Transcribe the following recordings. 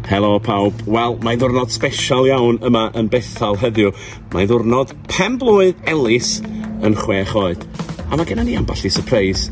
Helo pawb. Wel, mae'n ddwrnod special iawn yma yn Bethel heddiw. Mae'n ddwrnod pen blwydd Elis yn chwech oed. A mae gennym ni ambell i surprise.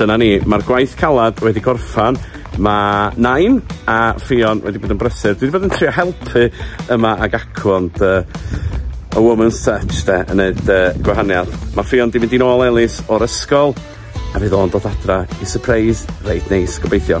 Dyna ni, mae'r gwaith calad wedi gorffan. Mae Nain a Ffion wedi bod yn brysur. Dwi wedi bod yn trio helpu yma ag acw, ond uh, a woman's touch de, yn neud uh, gwahaniaeth. Mae Ffion wedi mynd i'n ôl Elis o'r ysgol, a fydd o'n dod adra i surprise reit neis, gobeithio.